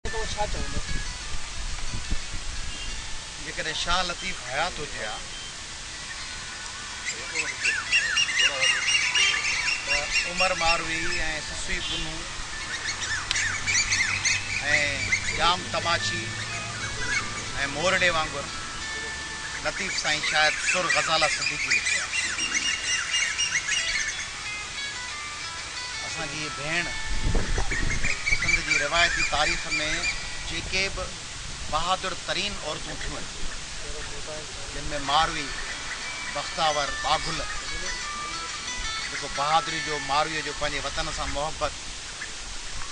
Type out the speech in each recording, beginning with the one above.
ته هو ڇا چوندو؟ جيڪڏهن شاهه لطيف حيات هجي ها ته عمر ماروي ۽ سسوي پنهون ۽ ڄام تماچي ۽ مورڙي وانگر لطيف سائين شايد سر غزالا صديقي لکي ها. اسان جي هيء ڀيڻ سنڌ جي روايتي تاريخ ۾ جيڪي به بهادر ترين عورتون ٿيون جن ۾ ماروي بختاور باگل جيڪو بهادري جو ماروي جو پنهنجي وطن سان محبت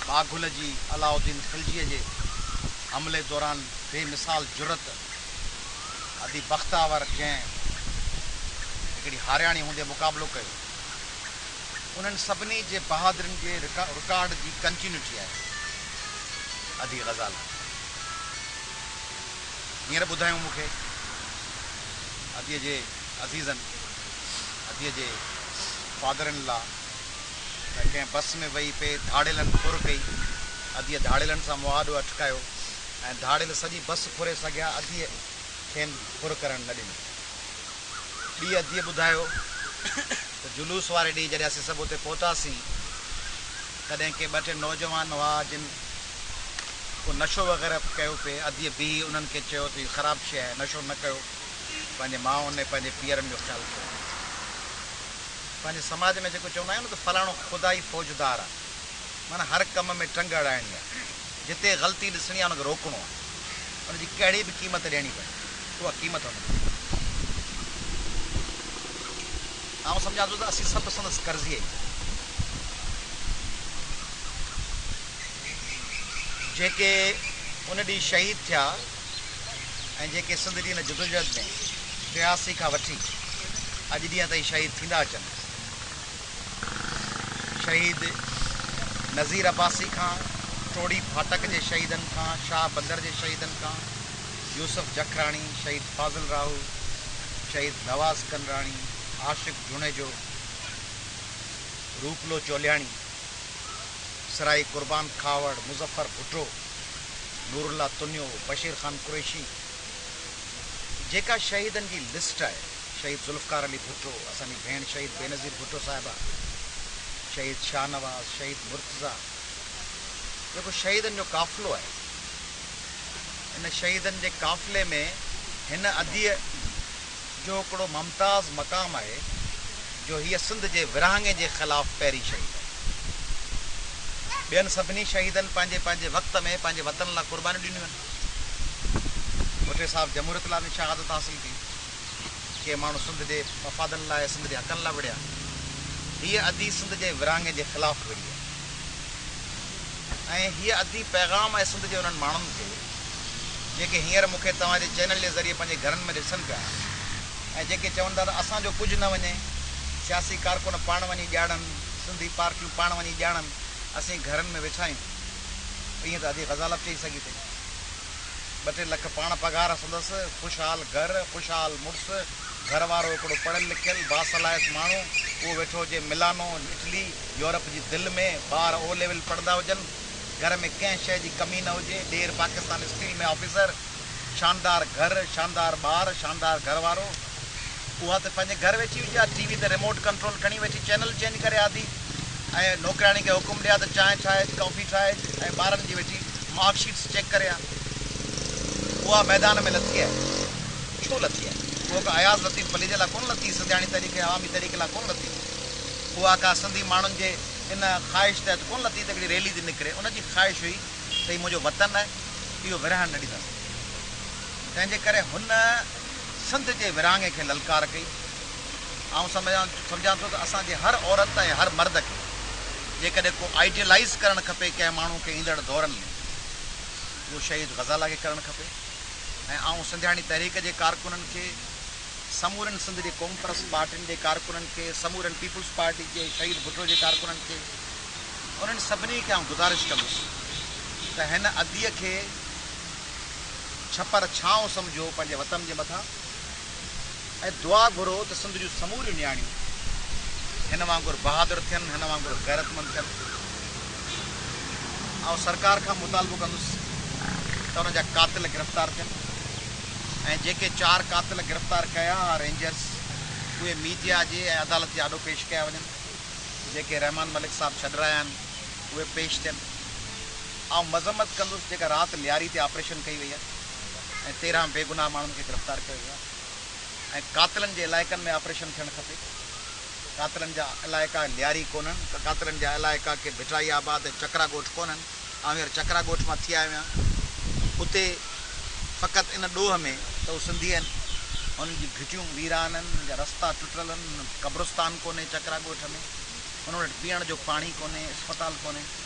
باگل جي علاؤ الدين خلجي جي حملي دوران بي مثال جرئت ادي بختاور جنهن هڪڙي هارياڻي هوندي مقابلو ڪيو انهن سڀني جي بهادرين جي رڪارڊ جي ڪنٽينيوٽي آهي ادي غزالا هينئر ٻڌايائون مون کي ادي جي عزيزن ادي جي فادر ان لا ته ڪنهن بس ۾ ويهي پئي ڌاڙيلن ڦر ڪئي ادي ڌاڙيلن سان مهاڏو اٽڪايو ۽ ڌاڙيل سڄي بس ڦري سگهيا اديء کين ڦر ڪرڻ نه ڏنو. ٻي اديء ٻڌايو ته جلوس واري ڏينهن جڏهن اسين سڀ اتي پهتاسين تڏهن ڪي ٻه ٽي نوجوان هئا جن ڪو نشو وغيره ڪيو پئي اديء بيهي انهن کي چيو ته هي خراب شيء آهي نشو نه ڪيو پنهنجي ماؤن ۽ پنهنجي پيئرن جو خيال ڪيو وڃي پنهنجي سماج ۾ جيڪو چوندا آهيون نه ته فلاڻو خدائي فوجدار آهي معنيٰ هر ڪم ۾ ٽنگ اڙائڻي آهي. جتي غلطي ڏسڻي آهي ان کي روڪڻو آهي ان جي ڪهڙي به قيمت ڏيڻي پوي اها قيمت هن ڏني آهي آئون سمجهان ٿو ته اسين سڀ سندس قرضي آهيون جيڪي ان ڏينهن شهيد ٿيا ۽ جيڪي سنڌ جي ان جدوجهد ۾ ٽياسي کان وٺي اڄ ڏينهن تائين شهيد ٿيندا اچن شهيد نظير عباسي کان، ٽوڙي ڦاٽڪ جي شهيدن کان، شاهه بندر جي شهيدن کان، يوسف جکراڻي، شهيد فاضل راهو، شهيد نواز ڪنراڻي، عاشق جوڻيجو، روپلو چولياڻي، سرائي قربان کهاوڙ، مظفر ڀٽو، نورالله تنيو، بشير خان قريشي جيڪا شهيدن جي لسٽ آهي. شهيد ذوالفقار علي ڀٽو، اسان جي ڀيڻ شهيد بينظير ڀٽو صاحبه، شهيد شاهنواز، شهيد مرتضيٰ جيڪو شهيدن جو قافلو آهي ان شهيدن جي قافلي ۾ هن اديء جو هڪڙو ممتاز مقام آهي جو هيء سنڌ جي ورهاڱي جي خلاف پهرين شهيد آهي. ٻين سڀني شهيدن پنهنجي پنهنجي وقت ۾ پنهنجي وطن لاء قربانيون ڏنيون آهن. ڀٽي صاحب جمهوريت لاء به شهادت حاصل ڪئي. ڪي ماڻهو سنڌ جي مفادن لاء ۽ سنڌ جي حقن لاء وڙهيا. هيء ادي سنڌ جي ورهاڱي جي خلاف وڙهي ۽ هيء ادي پيغام آهي سنڌ جي انهن ماڻهن کي جيڪي هينئر مون کي توهان جي چينل جي ذريعي پنهنجي گهرن ۾ ڏسن پيا ۽ جيڪي چون ٿا ته اسان جو ڪجهه نه وڃي، سياسي ڪارڪن پاڻ وڃي ڄاڙن، سنڌي پارٽيون پاڻ وڃي ڄاڻن، اسين گهرن ۾ ويٺا آهيون. ائين ته ادي غزالب چئي سگهي ٿي. ٻه ٽي لک پاڻ پگهار سندس، خوشحال گهر، خوشحال مڙس، گهر وارو هڪڙو پڙهيل لکيل باصلاحيت ماڻهو، اهو ويٺو هجي ملانو، اٽلي، يورپ جي دل ۾، ٻار او ليول پڙهندا هجن، گهر ۾ ڪنهن شيء جي ڪمي نه هجي، ڏير پاڪستان اسٽيل ۾ آفيسر، شاندار گهر، شاندار ٻار، شاندار گهر وارو. اها ته پنهنجي گهر ويٺي هجي ها ٽي وي تي ريموٽ ڪنٽرول کڻي ويٺي چينل چينج ڪري ها ٿي ۽ نوڪرياڻي کي حڪم ڏي ها ته چانهه ٺاهه اچ ڪافي ٺاهه اچ ۽ ٻارن جي ويٺي مارڪ شيٽس چيڪ ڪري ها اها ميدان ۾ لٿي آهي ڇو لٿي آهي اها ڪا اياز لطيف پليجي لا ڪونه لٿي سنڌياڻي تحريڪ ۽ عوامي تحريڪ لا ڪونه لٿي اها ڪا سنڌي ماڻهن جي ان خواهش تحت ڪونه لٿي ته هڪڙي ريلي تي نڪري ان جي خواهش هئي ته هي منهنجو وطن آهي اهو ورهائڻ نه ڏينداسين تنهنجي ڪري هن سنڌ جي ورهاڱي کي للڪار ڪئي. آئون سمجهان ٿو ته اسان جي هر عورت ۽ هر مرد کي جيڪڏهن ڪو آئيڊيلائيز ڪرڻ کپي ڪنهن ماڻهو کي ايندڙ دورن ۾ اهو شهيد غزالا کي ڪرڻ کپي ۽ آئون سنڌياڻي تحريڪ جي ڪارڪنن کي سمورين سنڌ جي قومپرست پارٽين جي ڪارڪنن کي سمورين پيپلز پارٽي جي شهيد ڀٽو جي ڪارڪنن کي انهن سڀني کي آئون گذارش ڪندس ته هن اديء کي ڇپر ڇانو سمجهو پنهنجي وطن جي مٿان ۽ دعا گهرو ته سنڌ جون سموريون نياڻيون هن وانگر بهادر ٿين، هن وانگر غيرتمند ٿين. آئون سرڪار کان مطالبو ڪندس ته ان جا قاتل گرفتار ٿين ۽ جيڪي چار قاتل گرفتار ڪيا ها رينجرز اهي ميڊيا جي ۽ عدالت جي آڏو پيش ڪيا وڃن. جيڪي رحمان ملڪ صاحب ڇڏرايا آهن اهي پيش ٿين. آئون مذمت ڪندس جيڪا رات لياري تي آپريشن ڪئي وئي آهي ۽ تيرهن بيگناهه ماڻهن کي گرفتار ڪيو ويو آهي ۽ قاتلن جي علائقن ۾ آپريشن ٿيڻ کپي. قاتلن جا علائقا لياري ڪونهن. قاتلن جا علائقا ڪي ڀٽائي آباد ۽ چڪرا ڳوٺ ڪونهن. آئون هينئر چڪرا ڳوٺ مان ٿي آيو آهيان. اتي فقط ان ڏوهه ۾ ته هو سنڌي آهن. هنن جون گهٽيون ويران آهن، هنن جا رستا ٽٽل آهن، هنن وٽ قبرستان ڪونهي چڪرا ڳوٺ ۾، هنن وٽ پيئڻ جو پاڻي ڪونهي، اسپتال ڪونهي.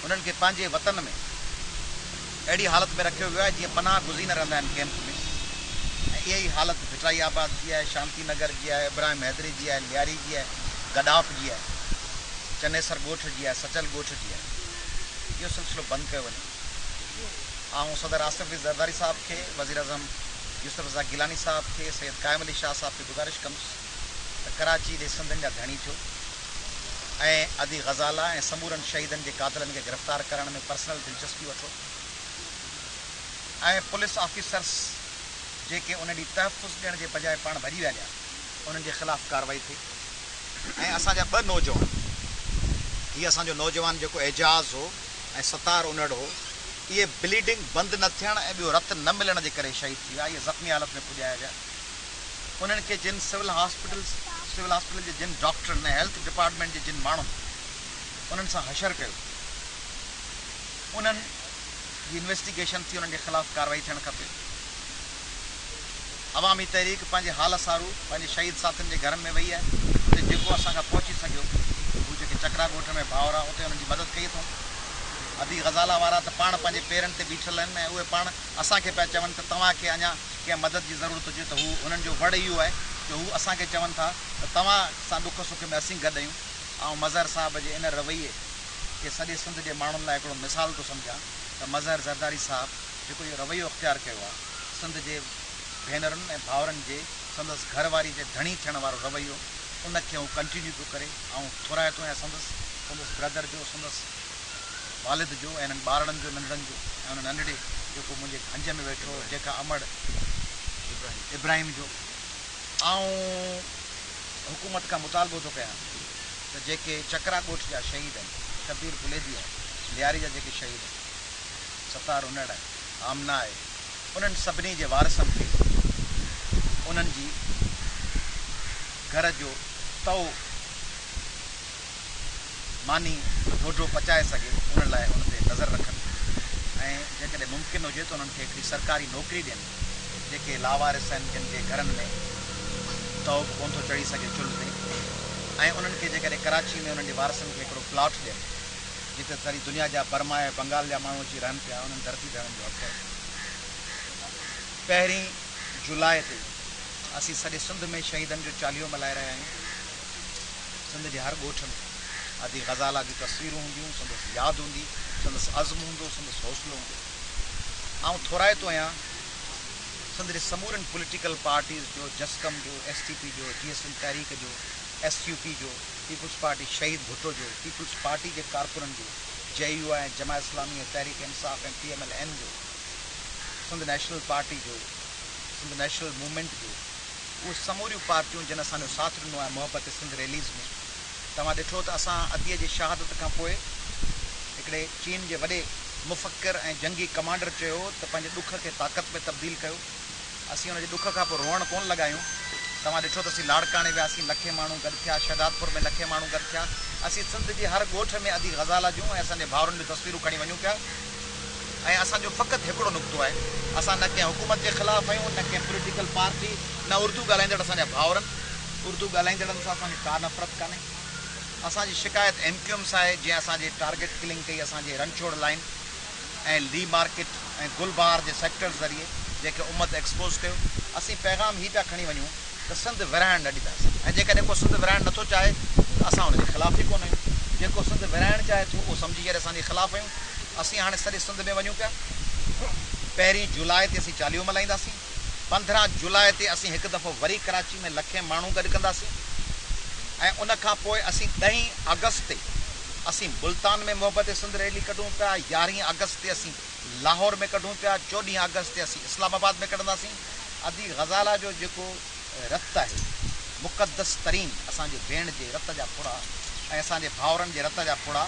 انهن کي پنهنجي وطن ۾ اهڙي حالت ۾ رکيو ويو آهي جيئن پناهه گزين رهندا آهن ڪيمپ ۾ ۽ اها ئي حالت ڀٽرائي آباد جي آهي، شانتي نگر جي آهي، ابراهيم حيدري جي آهي، لياري جي آهي، گڏاف جي آهي، چنيسر ڳوٺ جي آهي، سچل ڳوٺ جي آهي. اهو سلسلو بند ڪيو وڃي. آئون صدر آصف علي زرداري صاحب کي، وزيراعظم يوسف رضا گيلاني صاحب کي، سيد قائم علي شاهه صاحب کي گذارش ڪندس ته ڪراچي ڏي سنڌين جا ڌڻي ٿيو ۽ ادي غزالا ۽ سمورن شهيدن جي قاتلن کي گرفتار ڪرڻ ۾ پرسنل دلچسپي وٺو ۽ پوليس آفيسرس جيڪي ان ڏي تحفظ ڏيڻ جي بجاء پاڻ ڀڄي ويا ڏيا انهن جي خلاف ڪارروائي ٿئي ۽ اسان جا ٻه نوجوان هي اسان جو نوجوان جيڪو اعجاز هو ۽ ستار انڙ هو اهي بليڊنگ بند نه ٿيڻ ۽ ٻيو رت نه ملڻ جي ڪري شهيد ٿي ويا اهي زخمي حالت ۾ پڄايا ويا. انهن کي جن سول هاسپيٽل جي جن ڊاڪٽرن ۽ هيلٿ ڊپارٽمينٽ جي جن ماڻهن انهن سان حشر ڪيو انهن جي انويسٽيگيشن ٿي انهن جي خلاف ڪارروائي ٿيڻ کپي. عوامي تحريڪ پنهنجي حال سارو پنهنجي شهيد ساٿين جي گهرن ۾ وئي آهي اتي جيڪو اسان کان پهچي سگهيو هو جيڪي چڪرا ڳوٺ ۾ ڀائورا اتي انهن جي مدد ڪئي اٿئون ادي غزالا وارا ته پاڻ پنهنجي پيرن تي بيٺل آهن ۽ اهي پاڻ اسان کي پيا چون ته توهان کي اڃا ڪنهن مدد جي ضرورت هجي ته هو هنن جو وڙ اهو آهي جو هو اسان کي چون ٿا ته توهان سان ڏک سک ۾ اسين گڏ آهيون. آئون مظهر صاحب جي ان رويي کي سڄي سنڌ جي ماڻهن لاء هڪڙو مثال ٿو سمجهان ته مظهر زرداري صاحب جيڪو اهو رويو اختيار ڪيو آهي سنڌ جي ڀينرن ۽ ڀائرن جي سندس گهر واري جي ڌڻي ٿيڻ وارو رويو ان کي هو ڪنٽينيو پيو ڪري آئون ٿورائتو آهيان سندس سندس برادر جو سندس والد جو ۽ هنن ٻارڙن جو ننڍڙن جو ۽ ان ننڍڙي جيڪو منهنجي گهنج ۾ ويٺو هو جنهن کان امڙ ابراهيم جو آئون حڪومت کان مطالبو ٿو ڪيان ته جيڪي چڪرا ڳوٺ جا شهيد آهن شبير پليدي آهي لياري جا جيڪي شهيد آهن ستار انڙ آهي آمنه آهي انهن سڀني جي وارثن کي انهن جي گهر جو تئو ماني ڍوڍو پچائي سگهي ان لاء ان تي نظر رکن ۽ جيڪڏهن ممڪن هجي ته انهن کي هڪڙي سرڪاري نوڪري ڏين جيڪي لاوارث آهن جن جي گهرن ۾ تئو به ڪونه ٿو چڙهي سگهي چلهه تي ۽ انهن کي جيڪڏهن ڪراچي ۾ انهن جي وارثن کي هڪڙو پلاٽ ڏين جتي ساري دنيا جا برما ۽ بنگال جا ماڻهو اچي رهن پيا انهن ڌرتي تي انهن جو حق آهي پهرين جولاء تي اسين سڄي سنڌ ۾ شهيدن جو چاليهو ملهائي رهيا آهيون. سنڌ جي هر ڳوٺ ۾ ادي غزالا جون تصويرون هونديون، سندس ياد هوندي، سندس عزم هوندو، سندس حوصلو هوندو. آئون ٿورائتو آهيان سنڌ جي سمورين پوليٽيڪل پارٽيز جو، جسقم جو، ايس ٽي پي جو، جي ايس ايم تحريڪ جو، ايس يو پي جو، پيپلز پارٽي شهيد ڀٽو جو، پيپلز پارٽي جي ڪارڪنن جو، جي يو آء ۽ Jamaat Islami ۽ Tehreek Insaf ۽ P M L N جو، سنڌ نيشنل پارٽي جو، سنڌ نيشنل موومينٽ جو، اهي سموريون پارٽيون جن اسان جو ساٿ ڏنو آهي محبت سنڌ ريليز ۾ توهان ڏٺو ته اسان ادي جي شهادت کان پوء هڪڙي چين جي وڏي مفڪر ۽ جنگي ڪمانڊر چيو ته پنهنجي ڏک کي طاقت ۾ تبديل ڪيو اسين ان جي ڏک کان پوء روئڻ ڪون لڳايون توهان ڏٺو ته اسين لاڙڪاڻي وياسين لکين ماڻهو گڏ ٿيا شهدادپور ۾ لکين ماڻهو گڏ ٿيا اسين سنڌ جي هر ڳوٺ ۾ ادي غزالا جون ۽ اسان جي ڀائرن جون تصويرون کڻي وڃون پيا ۽ اسان جو فقط هڪڙو نقطو آهي، اسان نه ڪنهن حڪومت جي خلاف آهيون، نه ڪنهن پوليٽيڪل پارٽي، نه اردو ڳالهائيندڙ اسان جا ڀائورن، اردو ڳالهائيندڙن سان اسان کي ڪا نفرت ڪانهي، اسان جي شڪايت ايم ڪيو ايم سان آهي جنهن اسان جي ٽارگيٽ ڪلنگ ڪئي اسان جي رنڇوڙ لائين ۽ لي مارڪيٽ ۽ گل بهار جي سيڪٽرز ذريعي جنهن کي امت ايڪسپوز ڪيو، اسين پيغام هي پيا کڻي وڃون. ته سنڌ ورهائڻ نه ڏينداسين ۽ جيڪڏهن ڪو سنڌ ورهائڻ نٿو چاهي ته اسان ان جي خلاف ئي ڪونه آهيون. جيڪو سنڌ ورهائڻ چاهي ٿو اهو سمجهي ڪري اسان انهيء خلاف آهيون. اسين هاڻي سڄي سنڌ ۾ وڃون پيا. پهرين جولاء تي اسين چاليهو ملهائينداسين. پندرهن جولاء تي اسين هڪ دفعو وري ڪراچي ۾ لکين ماڻهو گڏ ڪنداسين ۽ ان کان پوء اسين ڏهين آگسٽ تي اسين ملتان ۾ محبت سنڌ ريلي ڪڍون پيا، يارهين آگسٽ تي اسين لاهور ۾ ڪڍون پيا، چوڏهين آگسٽ تي اسين اسلام آباد ۾ ڪڍنداسين. ادي غزالا جو جيڪو رت آهي مقدس ترين اسان جي ڀيڻ جي رت جا ڦڙا ۽ اسان جي ڀائورن جي رت جا ڦڙا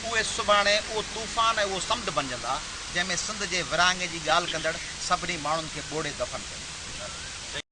اهي سڀاڻي اهو طوفان ۽ اهو سمنڊ بنجندا جنهن ۾ سنڌ جي ورهاڱي جي ڳالهه ڪندڙ سڀني ماڻهن کي ٻوڙي دفن ڪيو ويندو.